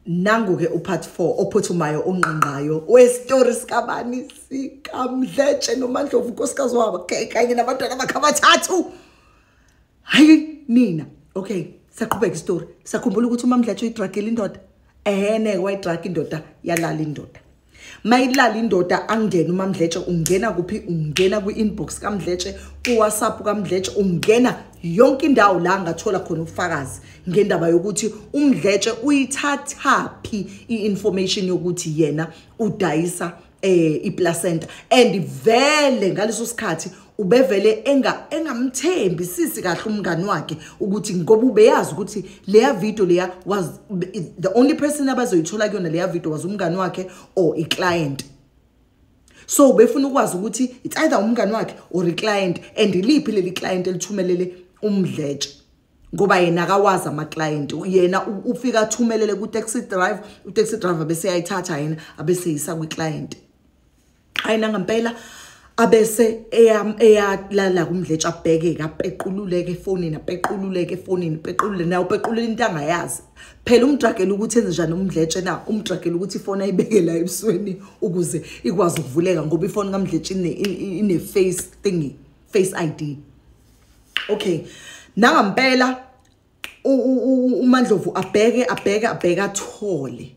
nangu-ke upart four ophuthumayo ongqangqayo wesitori sikabani sikamdletshe nomandlovu unkosikazi wabo kanye nabantwana bakhe abathathu hayi nina okay saqhubeka isitori sakhumbula ukuthi umamdletshe uyidragile indoda ehene wayidraga indoda yalala indoda mayilala indoda angene umamdletshe ungena kuphi ungena kwi-inbox kamdletshe kuwhatsapp kamdletshe ungena yonke indawo la ngathola khona ubufakazi ngendaba yokuthi umdletshe uyithathaphi i-information yokuthi yena udayisa eh iplacenta and vele ngaleso sikhathi ubevele enga engamthembi sisi kahle umngani wakhe ukuthi ngoba ubeyazi ukuthi leya video leya was the only person abazoyithola kuyona leya video was umngani wakhe or i client so ubefuna ukwazi ukuthi it's either umngani wakhe or i client and iliphi leli client elithumelele umdletshe ngoba yena akawazi ama client yena ufika athumelele ku taxi drive u taxi driver bese ayithatha yena abese yisa kwi client hayi nangampela abese eyalala kumdletsha abhekeke apequluleke efonini apequluleke efonini pequlule naye upequlula into angayazi phela umdragela ukuthi enze njani umdletshe na umdragela ukuthi ifoni ayibeke la ebusweni ukuze ikwazi ukuvuleka ngoba ifoni kamdletshe ine-face thingy face i d okay nangampela umandlovu abheke abheke abheke athole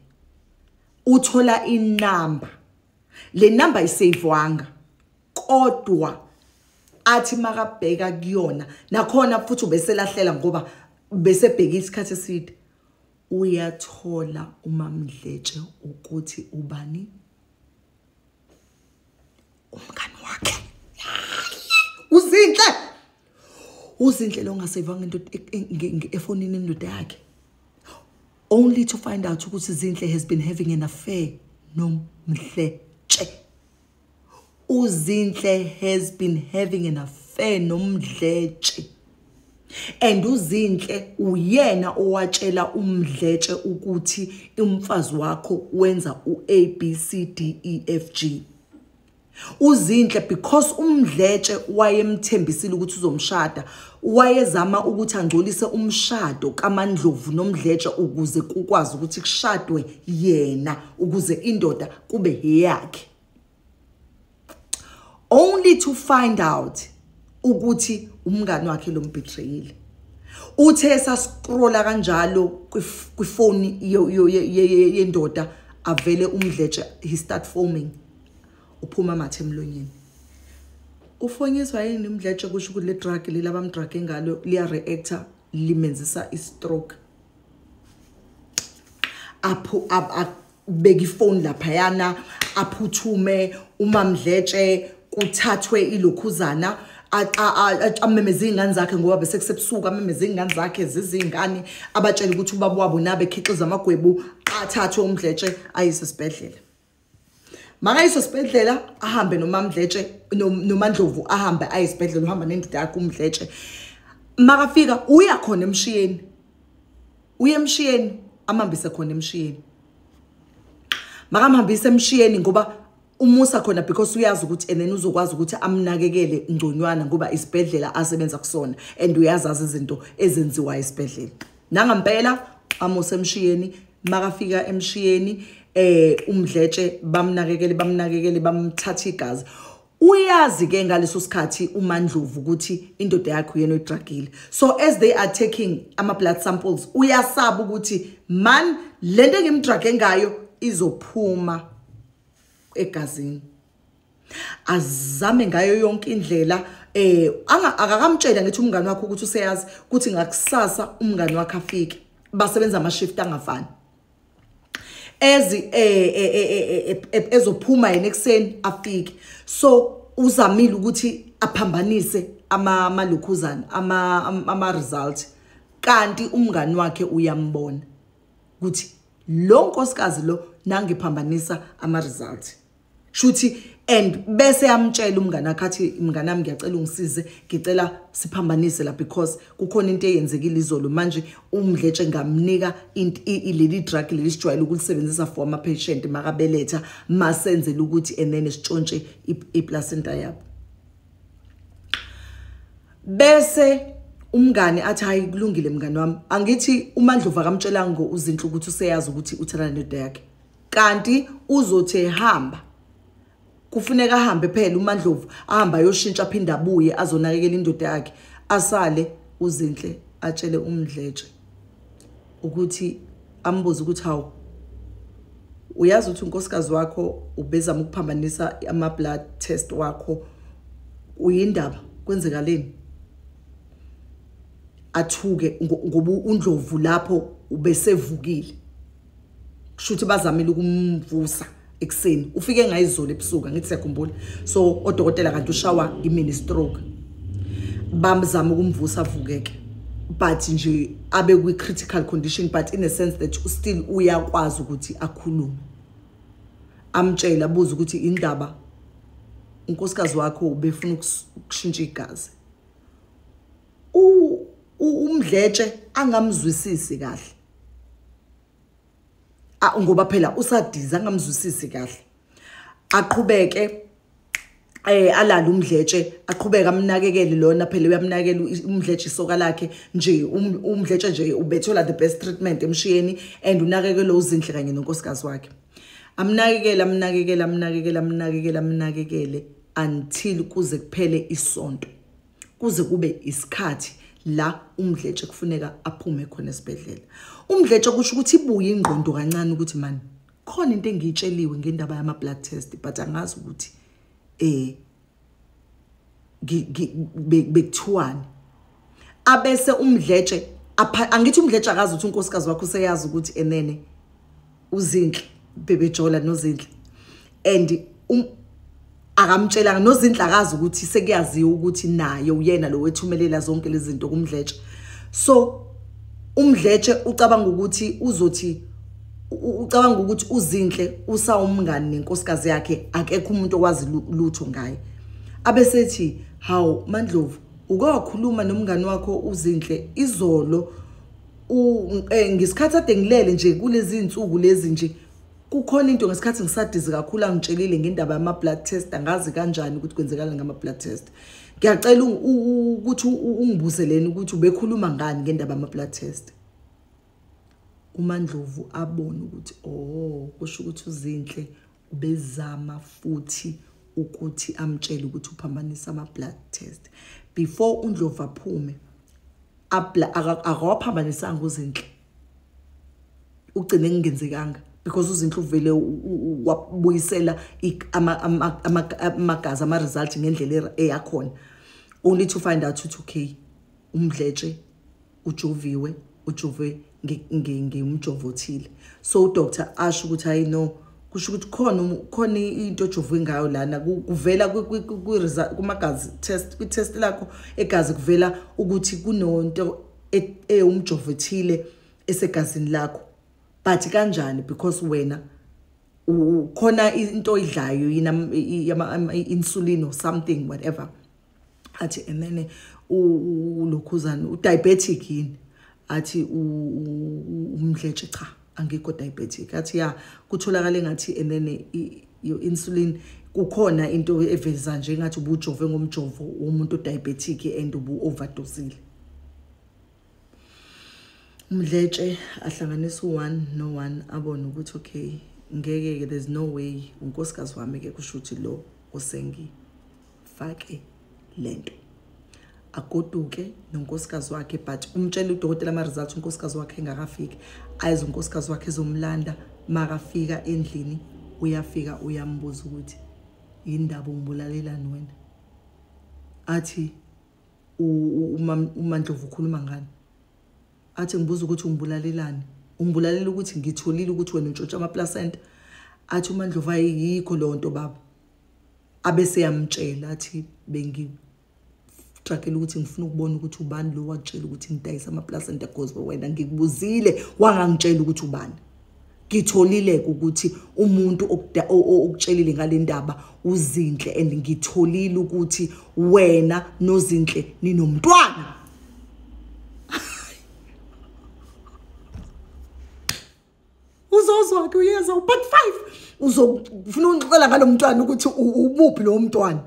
uthola inamba le number iseyivwanga kodwa athi makabheka kuyona nakhona futhi ubeselahlela ngoba besebheke isikhathi eside uyathola umamdletshe ukuthi ubani umngani wakhe uzinhle uzinhle lo ngasevanga into efonini indoda yakhe only to find out ukuthi zinhle has been having an affair nomhle tshe uzinhle has been having an affair nomdletshe and uzinhle uyena owatshela umdletshe ukuthi umfazi wakho wenza uABCDEFG uzinhle because umdletshe wayemthembisile ukuthi uzomshada wayezama ukuthi angcolise umshado kamandlovu nomdletshe ukuze kukwazi ukuthi kushadwe yena ukuze indoda kube heyakhe only to find out ukuthi umngani wakhe lo mbetrayile uthe sascrolla kanjalo kwifoni yendoda avele umdletshe he start foaming uphuma amathe emlonyeni ufonyiswa yini umdletshe kusho ukuthi le drug leli abamdrage ngalo liya-reactor limenzisa i-stroke apho abeke ifoni laphayana aphuthume umamdletshe kuthathwe ilokhuzana amemeza iy'ngane zakhe ngoba bese kusebusuku amemeza iy'ngane zakhe ziziy'ngane abatshele ukuthi ubaba wabo nabekhiqiza amagwebu athathwe umdletshe ayise esibhedlela makayiso sibhedlela ahambe nomamdletshe nomandlovu ahambe aye esibhedlela uhamba nendoda yakhe umdletshe makafika uya khona emshiyeni uye emshiyeni amhambise khona emshiyeni makamhambise emshiyeni ngoba umusa khona because uyazi ukuthi and then uzokwazi ukuthi amnakekele ngconywana ngoba isibhedlela asebenza kusona and uyazazi izinto ezenziwa esibhedlela nangampela amuse emshiyeni makafika emshiyeni eh umdletshe bamnakekele bamnakekele bamthatha igazi uyazi ke ngaleso sikhathi uMandlovu ukuthi indoda yakhe uyena oyidragile so as they are taking ama blood samples uyasaba ukuthi man lento engimdrage ngayo izophuma egazini azame ngayo yonke indlela eh akakamtshela ngithi umngane wakhe ukuthi useyazi ukuthi ngakusasa umngane wakhe afike basebenza ama shift angafani ezi eh, eh, eh, ezophuma yena ekseni afike so uzamile ukuthi aphambanise ama malokhuzana ama ama result kanti umngani wakhe uyambona ukuthi lo nkosikazi lo nangiphambanisa ama result shuthi and bese yamtshela umngane akhe athi mngane wami ngiyacela ungisize ngicela siphambanise la because kukhona into eyenzekile izolo manje umdletshe ngamnika leli drug leli sijwayele ukulisebenzisa for ama-patient makabeletha masenzela ukuthi enene sitshontshe iplacenta yabo bese umngane athi hayi kulungile mngane wami angithi umandlovu akamtshelanga uzinhle ukuthi useyazi ukuthi uthelana nedoda yakhe kanti uzothi ehamba kufuneka ahambe phela uMandlovu ahamba ayoshintsha phinda abuye azonakekela indoda yakhe asale uzinhle atshele umdletshe ukuthi ambuze ukuthi hawu uyazi ukuthi unkosikazi wakho ubezama ukuphambanisa ama-blood test wakho uyindaba kwenzekaleni athuke ngoba undlovu lapho ubesevukile kusho ukuthi bazamile ukumvusa ekuseni ufike ngayizolo ebusuku ngithi siyakhumbula so odokotela kanti ushawa imini stroke bamzama ukumvusa avukeke but nje abe kwi critical condition but in a sense that u still uyakwazi ukuthi akhulume amtshela abuza ukuthi indaba unkosikazi wakho ubefuna ukushintsha igazi umdletshe angamzwisisi kahle ngoba phela usadiza angamzwisisi kahle aqhubeke eh alala umdletshe aqhubeka amnakekele lona phela uyamnakekela umdletshe isoka lakhe nje um, umdletshe nje ubethola the best treatment emshiyeni and unakekela uzinhle kanye nonkosikazi wakhe amnakekele amnakekele amnakekele amnakekele amnakekele until kuze kuphele isonto kuze kube isikhathi la umdletshe kufuneka aphume khona esibhedlela umdletshe kusho ukuthi ibuye ingqondo kancane ukuthi mani khona into engiyitsheliwe ngendaba yama blood test but angazi ukuthi eh bekuthiwani abese umdletshe angithi umdletshe akazi ukuthi unkosikazi wakho useyazi ukuthi enene uzinhle bebejola nozinhle and um, akamtshelanga nozinhle akazi ukuthi sekuyaziwa ukuthi naye uyena lo wethumelela zonke lezi zinto kumdletshe so umdletshe ucabanga ukuthi uzothi ucabanga ukuthi uzinhle usawumngani nenkosikazi yakhe akekho umuntu owazi lutho ngaye abesethi hawu mandlovu uke wakhuluma nomngani wakho uzinhle izolo Eh, ngesikhathi ade ngilele nje kulezi nsuku lezi nje kukhona into ngesikhathi ngisadizi kakhulu angitshelile ngendaba yama blood test angazi kanjani ukuthi kwenzekala ngama blood test ngiyacela ukuthi ungibuzeleni ukuthi ubekhuluma ngani ngendaba yama blood test uMandlovu abone ukuthi oh kusho ukuthi uzinhle ubezama futhi ukuthi amtshele ukuthi uphambanisa ama blood test before uNdlovu aphume akawaphambanisanga uzinhle ugcine kungenzekanga because uzinhle uvele wabuyisela amagazi ama-result ngendlela eyakhona only to find out ukuthi okay umdletshe ujoviwe ujove ngimjovo othile so udoctor asho ukuthi hayi no kusho ukuthi khona um, khona into ojovwe ngayo lana kuvela kumagazi test kwi-test lakho egazi kuvela ukuthi kunonto e, ewumjovo ethile esegazini lakho but kanjani because wena khona into oyidlayo yina ama-insulin or something whatever athi enene ulokhuzane udiabetic yini athi umdletshe cha angikho diabetic athi ya kutholakala engathi enene your insulin kukhona into eveza nje ngathi ubujove ngomjovo womuntu diabetic and ubu overdosile umdletshe ahlanganisa u-one no-one abone ukuthi okay ngeke-ke there's no way unkosikazi wami-ke kusho ukuthi lo osengifake le nto agoduke nonkosikazi wakhe but umtshele udokotela ama-results unkosikazi wakhe engakafiki ayize unkosikazi wakhe ezomlanda makafika endlini uyafika uyambuza ukuthi yindaba ungibulalelani wena athi umandlovu ukhuluma ngani athi ngibuza ukuthi ungibulalelani ungibulalela ukuthi ngitholile ukuthi wena untshontsha amaplacenta athi umandlovu ayikho leyo nto baba abese yamtshela athi bengitragela ukuthi ngifuna ukubona ukuthi ubani lo wakutshela ukuthi ngidayisa amaplacenta gospel wena ngikubuzile wangangitshela ukuthi ubani ngitholile ukuthi umuntu okutshelile ngale ndaba uzinhle and ngitholile ukuthi wena nozinhle ninomntwana uzozwa ke uyeza u-part five uzofuna ungixoxela ngalo mntwana ukuthi umuphi lowo mntwana